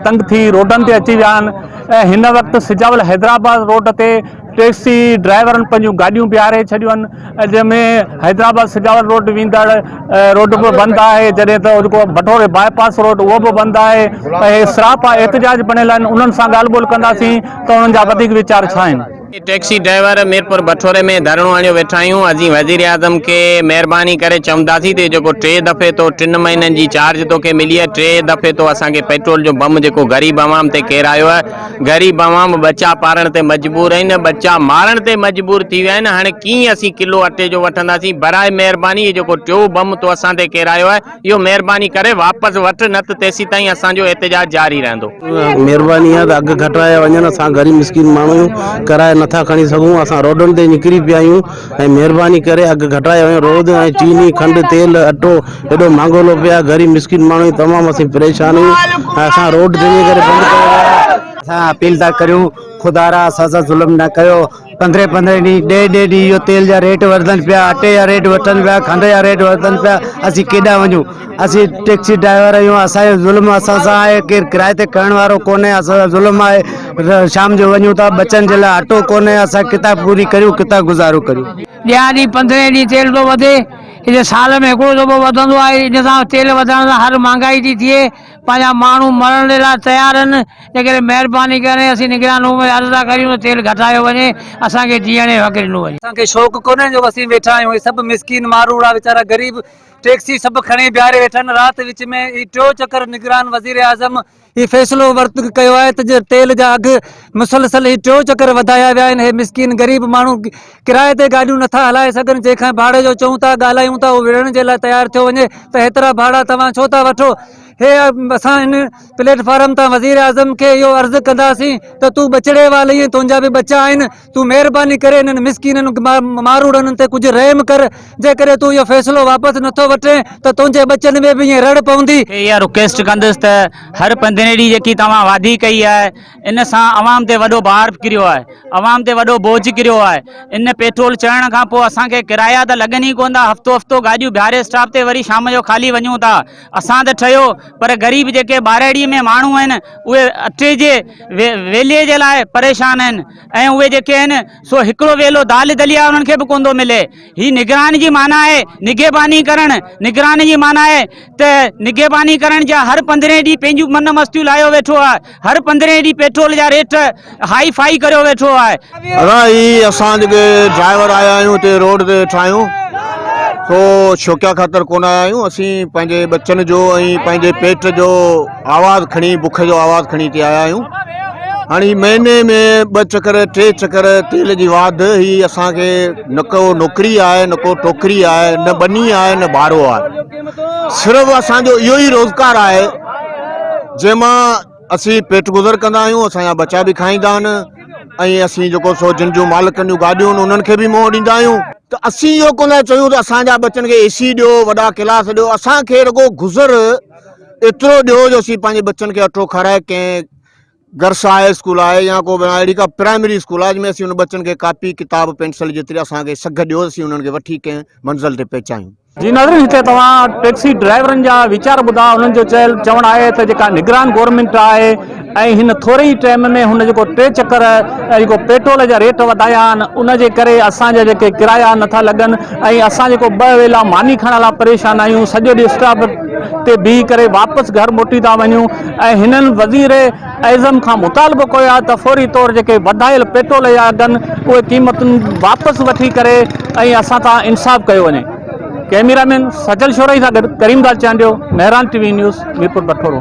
تنگ ٿي روڊن تي اچي ويا آهن ۽ هن وقت سجاول حيدرآباد روڊ تي ٽيڪسي ڊرائيورن پنهنجون گاڏيون بيهاري ڇڏيون آهن جنهن ۾ حيدرآباد سجاول روڊ ويندڙ روڊ به بند آهي جڏهن ته جيڪو بٺوري باء پاس روڊ اهو به بند آهي ۽ سراپا احتجاج بڻيل آهن انهن سان ڳالهه ٻولهه ڪنداسين ته انهن جا وڌيڪ ويچار ڇا آهن ٽيڪسي ڊرائيور ميرپور بٺوري ۾ ڌرڻو هڻيو ويٺا آهيون، اسين وزيراعظم کي مهرباني ڪري چونداسين ته جيڪو ٽي دفعي تو ٽن مهينن جي چارج توکي ملي آهي ٽي دفعي تو اسان کي پيٽرول جو بم جيڪو غريب عوام تي ڪيرايو آهي غريب عوام ٻچا پارڻ تي مجبور آهن ٻچا مارڻ تي مجبور ٿي ويا آهن هاڻي ڪيئن اسين ڪلو اٽي جو وٺنداسين برائي مهرباني هي جيڪو ٽيون بم تو اسان تي ڪيرايو آهي اهو مهرباني ڪري واپس وٺ نه ته تيسيتائين اسان جو احتجاج جاري رهندو. مهرباني آهي ته اگهه گهٽايا وڃن اسان غريب مسڪين ماڻهو آهيون ڪرايو نٿا کڻي سگهون اسان روڊن تي نڪري پيا آهيون ۽ مهرباني ڪري اگهه گهٽايا وڃن روڊ ۽ چيني کنڊ تيل اٽو ايڏو مهانگو لو پيو آهي غريب مسڪين ماڻهو آهيون تمام اسين پريشان آهيون ۽ اسان روڊ جنهن جي ڪري بند ڪيو ويو آهي. اسان اپيل ٿا ڪريون خدارا اسان سان ظلم نه ڪيو. پندرهين پندرهين ڏينهن ڏهين ڏهين ڏينهن اهو تيل جا ريٽ وڌن پيا اٽي جا ريٽ وڌن پيا کنڊ جا ريٽ وڌن پيا اسين ڪيڏانهن وڃون اسين ٽيڪسي ڊرائيور آهيون اسان جو ظلم اسان سان آهي ڪير ڪرائي تي کڻڻ وارو ڪونهي اسان سان ظلم آهي شام جو وڃون ٿا ٻچن جي لاء اٽو ڪونهي اسان ڪٿان پوري ڪريون ڪٿان گذارو ڪريون ڏيان ڏينهن پندرهين ڏينهن تيل ٿو وڌي هتي سال ۾ هڪڙو دفعو وڌندو آهي ان سان تيل وڌڻ سان هر مهانگائي ٿي ٿئي پنهنجا ماڻهو مرڻ جي لاء تيار آهن، تنهنڪري مهرباني ڪري اسين نگران روم کي عرض ٿا ڪريون ته تيل گهٽايو وڃي، اسان کي جيئڻ جي حق ڏنو وڃي. اسان کي شوق ڪونهي جو اسين ويٺا آهيون، هي سڀ مسڪين ماروئڙا ويچارا غريب ٽيڪسي سڀ کڻي بيهاري ويٺا آهن، رات وچ ۾ هي ٽيون چڪر نگران وزيراعظم هي فيصلو ورت ڪيو آهي ته جي تيل جا اگهه مسلسل هي ٽيون چڪر وڌايا ويا آهن، هي مسڪين غريب ماڻهو ڪرائي تي گاڏيون نٿا هلائي سگهن، جنهن کان ڀاڙي جو چئون ٿا، ڳالهايون ٿا، اهو وڙهڻ جي لاء تيار ٿيو وڃي ته هيترا ڀاڙا توهان ڇو ٿا وٺو؟ هي اسان ان پليٽ فارم تان وزيراعظم کي اهو عرض ڪنداسين ته تون ٻچڙي وال ائين تنهنجا به ٻچا آهن، تون مهرباني ڪري انهن مسڪينن ماروڙن تي ڪجهه رحم ڪر، جيڪڏهن تون اهو فيصلو واپس نٿو وٺين ته تنهنجي ٻچن ۾ به ائين رڙ پوندي. کي اها رڪويسٽ ڪندس ته هر پنڌرين ڏينهن جيڪي توهان وعدي ڪئي آهي. ان سان عوام تي وڏو بار به ڪريو آهي، عوام تي وڏو بوجھ ڪريو آهي، ان پيٽرول چڙهڻ کان پوء اسان کي ڪرايا ته لڳن ئي ڪونه ٿا، هفتو هفتو گاڏيون بيهاري اسٽاپ تي وري شام جو خالي وڃون ٿا، اسان ته ٺهيو پر غريب جيڪي ٻارهڙي ۾ ماڻهو آهن اهي اٽي جي ويلي جي لاء پريشان آهن ۽ اهي جيڪي آهن سو هڪڙو ويلو دال دليا انهن کي به ڪونه ٿو ملي. هي نگران جي معنيٰ آهي نگهباني ڪرڻ، نگران جي معنيٰ آهي ته نگهباني ڪرڻ جا هر پندرهين ڏينهن پنهنجون من مستيون لاهيو ويٺو آهي، هر پندرهين ڏينهن پيٽرول جا ريٽ هائي فائي ڪريو ويٺو آهي. ادا هي اسان جيڪي ڊرائيور آيا آهيون هتي روڊ تي ويٺا آهيون سو شوقيا خاطر ڪونه آيا آهيون اسين پنهنجي ٻچن جو ۽ پنهنجي پيٽ جو آواز کڻي بک جو آواز کڻي ھتي آيا آھيون ھاڻي ھي مھيني ۾ ٻه چڪر ٽي چڪر تيل جي واڌ ھي اسان کي نه ڪو نوڪري آھي نه ڪو ٽوڪري آھي نه ٻني آھي نه ٻھارو آھي صرف اسان جو اھو ئي روزگار آھي جنھن مان اسين پيٽ گذر ڪندا آھيون اسان جا ٻچا به کائيندا آھن ۽ اسين جيڪو سو جن جون مالڪن جون گاڏيون آھن انھن کي به منھن ڏيندا آھيون ته اسين اھو ڪونه ٿا چيون ته اسان جا ٻچن کي اي سي ڏيو وڏا ڪلاس ڏيو اسان کي رڳو گذر ايترو ڏيو جو اسين پنهنجي ٻچن کي اٺو کارائي ڪنهن گرس هاء اسڪول آهي يا ڪو اهڙي ڪا پرائمري اسڪول آهي جنهن ۾ اسين ان ٻچن کي ڪاپي ڪتاب پينسل جيتري اسان کي سگهه ڏيو اسين انهن کي وٺي ڪنهن منزل تي پهچايون. جي ناظرين هتي توهان ٽيڪسي ڊرائيورن جا ويچار ٻڌا انهن جو چيل چوڻ آهي ته جيڪا نگران گورنمينٽ آهي ۽ هن ٿوري ئي ٽئم ۾ هن جيڪو ٽي چڪر جيڪو پيٽرول جا ريٽ وڌايا آهن ان جي ڪري اسان جا جيڪي ڪرايا نه ٿا لڳن ۽ اسان جيڪو ٻه ويلا ماني کائڻ لاء پريشان آهيون سڄو ڏينهن اسٽاپ تي بيهي ڪري واپس گهر موٽي ٿا وڃون ۽ هنن وزير اعظم کان مطالبو ڪيو آهي ته فوري طور جيڪي وڌايل پيٽرول جا اگهن اهي قيمتون واپس وٺي ڪري ۽ اسان تان انصاف ڪيو وڃي ڪئميرا مين سجل شورائي سان گڏ Karim Dad Chandio Mehran T V news Mirpur Bathoro